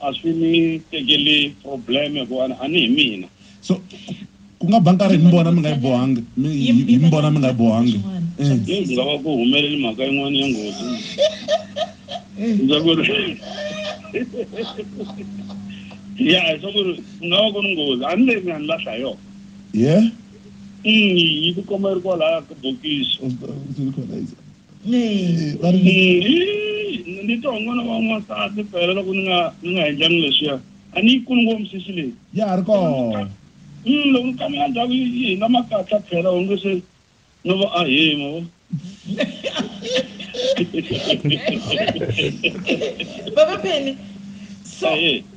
a swi ni tekeli problem ku a ni hi mina so ku nga ba nkarhi mi vona mi nga yi bohangi hi mi vona mi nga yi bohangi eh. nga va ku humeleli mhaka yin'wana ya nghozi eh. ndza ku ri ya hi swa ku ri ku nga va ku ri nghozi a ni leyi nga ni lahla yona ye yi tikomba yi ri kwalaya ka bokisi ni twa n'wana wa n'wansati phela loko ni nga ni nga endlangi leswiya a ni yi kuni ngopfu misisi leyi ya ha ri kona mm, loko ni kamela ndhawu yi hina makatla phela onge se no va a hima vo baba pheni so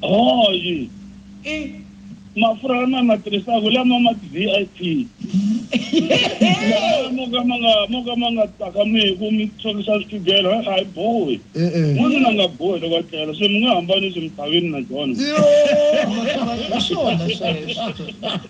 hoyi i mafurha lama ma tirhisaka lama ma ti-vip lama mo ka ma nga mo ka ma nga tsakamiku mi tshorisa swigelo a hi bohi n'wanuna nga bohi loko a tlela se mi nga hambani swi misaveni na jona Yo, swona sweswo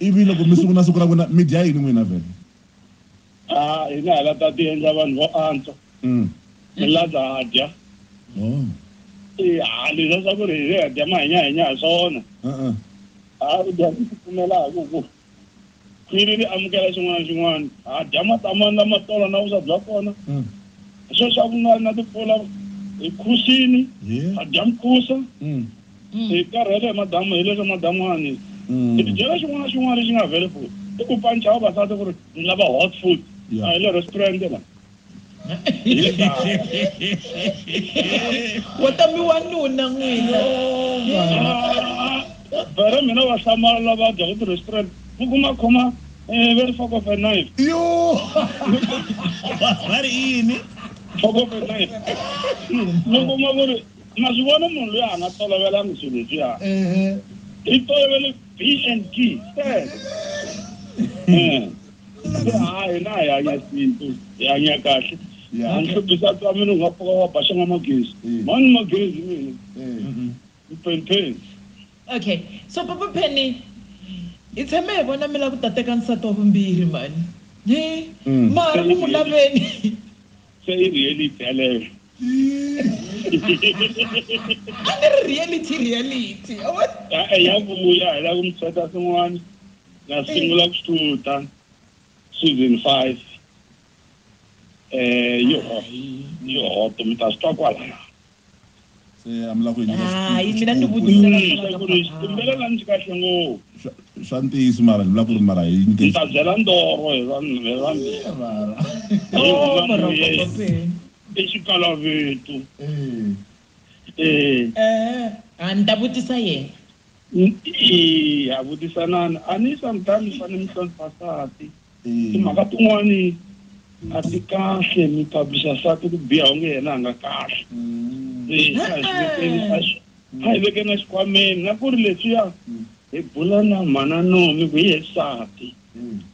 Ivi loko mi sungula siku ra n'wina mi dya yini n'wina vhele? A hi nga ha la ta tiendla vanhu vo antswa, mi la ta dya. I ha leswa swa ku ri hi ha dya mahinyahenya ha swona. Ha dya ku tipfumela hi ku ku khwiri ri amukela xin'wana na xin'wana. Ha dya matamani lama tolo na vuswa bya kona. Sweswi a ku nga ri na timpfula, hi khusini, ha dya mukhusa. Mm. Hi karhele hi madamu hi le ka madamuwani. Mm. Hi tidyela xin'wana na xin'wana lexi nga available. I ku pancha vavasati ku ri ni lava hot food. Yeah. A hi le restaurant la. Wa ta mi wanuna n'wina. Vere mina va hlamala lava dya ku ti-restaurant. Mi kuma khoma eh, very fork of a knife. Yo! Va ri yini? Fork of a knife. Mi kuma ku ri Ma swi vona munhu loyi a nga tolovelanga swilo leswiya i tolovele b and t sele se hayi na hi hanya sintu hi hanya kahle a ni hluphisa twa mina u nga pfuka wa ba xanga magezi mani magezi mina mpenipeni okay so papa penny hi tshame hi vona mi la ku ta teka nsati wa vumbirhi mani hi mara ku mu laveni se i reality yaleyo a ni ri reality reality e ya vuya hi la ku mi seta swin'wana na sungula ku xuta season five eh yo yo to mi ta swi twa kwalaya se a mi la ku hayi mina ni vutiselakumbela la ndzi kahle ngopfu swa ntiyiso mara ni vula ku ri mara hi ni ta byela ndoro hi vanhu hi vanhu I xikalavetu. Eeh. Eeh. A ni ta vutisa yena. Eeh, vutisanani. A ni sometimes mi fane mi hlonipha nsati. Timhaka tin'wani a ti kahle mi publisher nsati ku biha onge yena a nga kahle. Eeh. A hi vekeni a xikhwameni na ku ri leswiya hi bula na mhana Nomi ku hi yena nsati.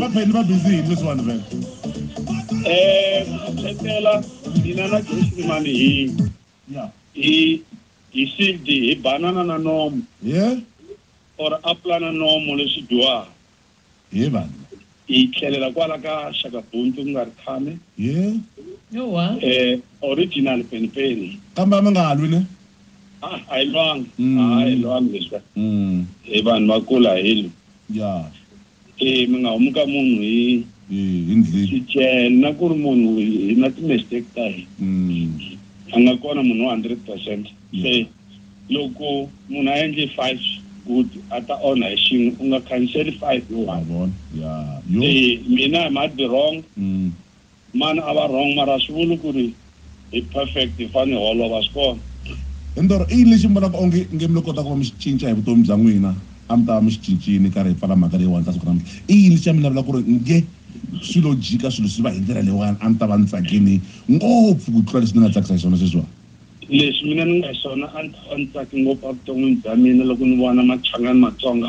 vapeni va busy yini leswiwani vele um khetela mina na josimani hi hi hi sived hi banana na nomo or aplana nomo leswi dyiwaka He vanhu. Hi tlhelela kwala ka Shaka Buntu ku nga ri khame. He. Yowa. Eh, original Peni Peni. Kambe a mi nga lwi ne? Ah, a hi lwanga. Mm. A hi lwanga leswi. Mm. Hi vanhu va kula hi lwi. Ya. Eh, mi nga humi ka munhu hi. Hi, hi ndlhini. Xichela na ku ri munhu hi na ti-mistake ta hina. Mm. A nga kona munhu wa hundred percent. Se. Loko munhu a endle five good a ta onha hi xin'we u nga khanseli five hi one Yabona. Ya. Yo. se mina i might be wrong Mm. mani a va wrong mara a swi vuli ku ri hi perfect hi fane hi holova swi kona Ndoro, i yini lexi mi vonaka onge nge mi lo kota ku va mi xi cinca hi vutomi bya n'wina a mi ta va mi xi cincini karhi hi pfala mhaka leyiwani ka siku ra namuntlha? I yini lexi a mi lavela ku ri nge swi lo jika swilo swi va hi ndlela leyiwani a ni ta va ni tsakini ngopfu ku tlula leswi ni nga tsakisa hi swona sweswiwani? Lexi mina ni nga hi xona a ni ta va ni tsake ngopfu evuton'wini bya mina loko ni vona Machangani Matsonga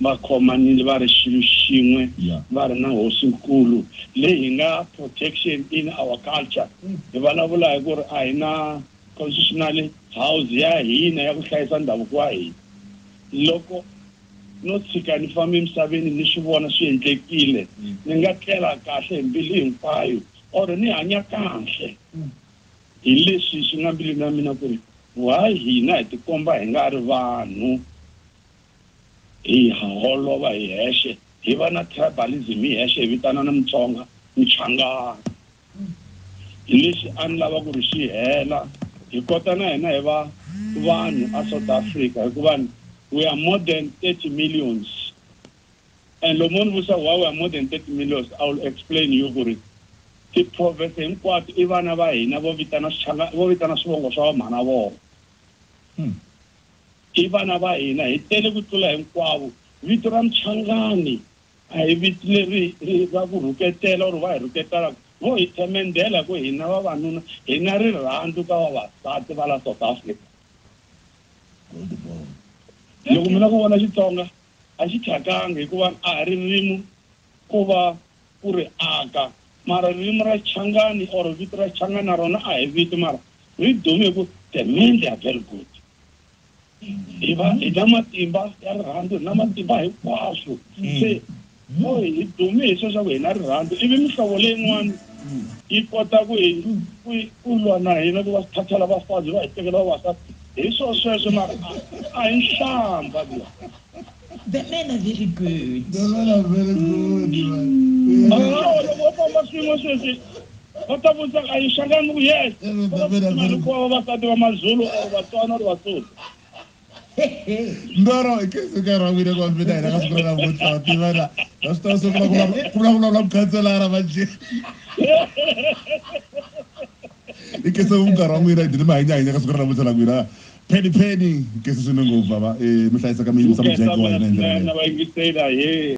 va khomanile va ri xilo xin'we va ri na Hosi-nkulu leyi hi nga protection in our culture. Hi vulavula hi ku ri a hi na constitutional house ya hina ya ku hlayisa ndhavuko wa hina. Loko no tshika ni famba emisaveni ni swi vona swi endlekile ni nga tlela kahle hi mbilu hinkwayo or ni hanya kahle. Hi leswi swi nga mbilwini ya mina ku ri, Why hina hi tikomba hi nga ri vanhu, hi holova hi hexe, hi va na tribalism hi hexe, hi vitanana Mutsonga, Muchangana. Hi leswi a ni lava ku ri swi hela, hi kota na hina hi va vanhu a South Africa hikuva we are more than 30 millions. And loko mo ni vutisa why we are more than 30 millions, I will explain you ku ri ti-province hinkwato i vana va hina vo vitana swichanga, vo vitana swivongo swa vamhana vona. I vana va hina, hi tele ku tlula hinkwavo. Vito ra Muchangani a hi vito leri ra ku rhuketela or va hi rhuketela ku vo hi themendhela ku hina vavanuna hi na rirhandzu ka vavasati va la South Africa. Loko mi la ku vona Xitsonga a xi thyakanga hikuva a hi ririmi ko va ku ri aka. Mara ririmi ra Changani or vito ra Changani na rona a hi vito mara ri dume hi ku the men they are very good. Hi va hi na matimba ya rirhandzu, hi na matimba hinkwaswo. Se Yo, hi dume hi sweswo ku hi na rirhandzu, ivi mihlovo leyin'wana yi kota ku hi, ku hi, ku lwa na hina, ku va sithathela vafazi va hi tekela vavasati. Hi swo sweswo, mara a, a hi nhlambha liya. The men are very good. The men are very good, man. Mara Yeah. loko loko va famba swin'we sweswi, va ta vutisa ku, a yi xangani ku yes, Every va va woman of tsutsuma God. loko va vavasati va Mazulu or Vatswana or Vasotho. ndoro i khensa eka ra wile ku mina hina ka siku ra namuntlha wa tivana na swi tava se ku vulavula na mukhanselara manje i khensa ku munkarhi wa n'wina dini mi hanyahanya ka siku ra namuntlha la n'wina pheni pheni i khensa swinene ngopfu bava um eh, mi hlayisaka mi yingisa mujeke wa hina hi ndlela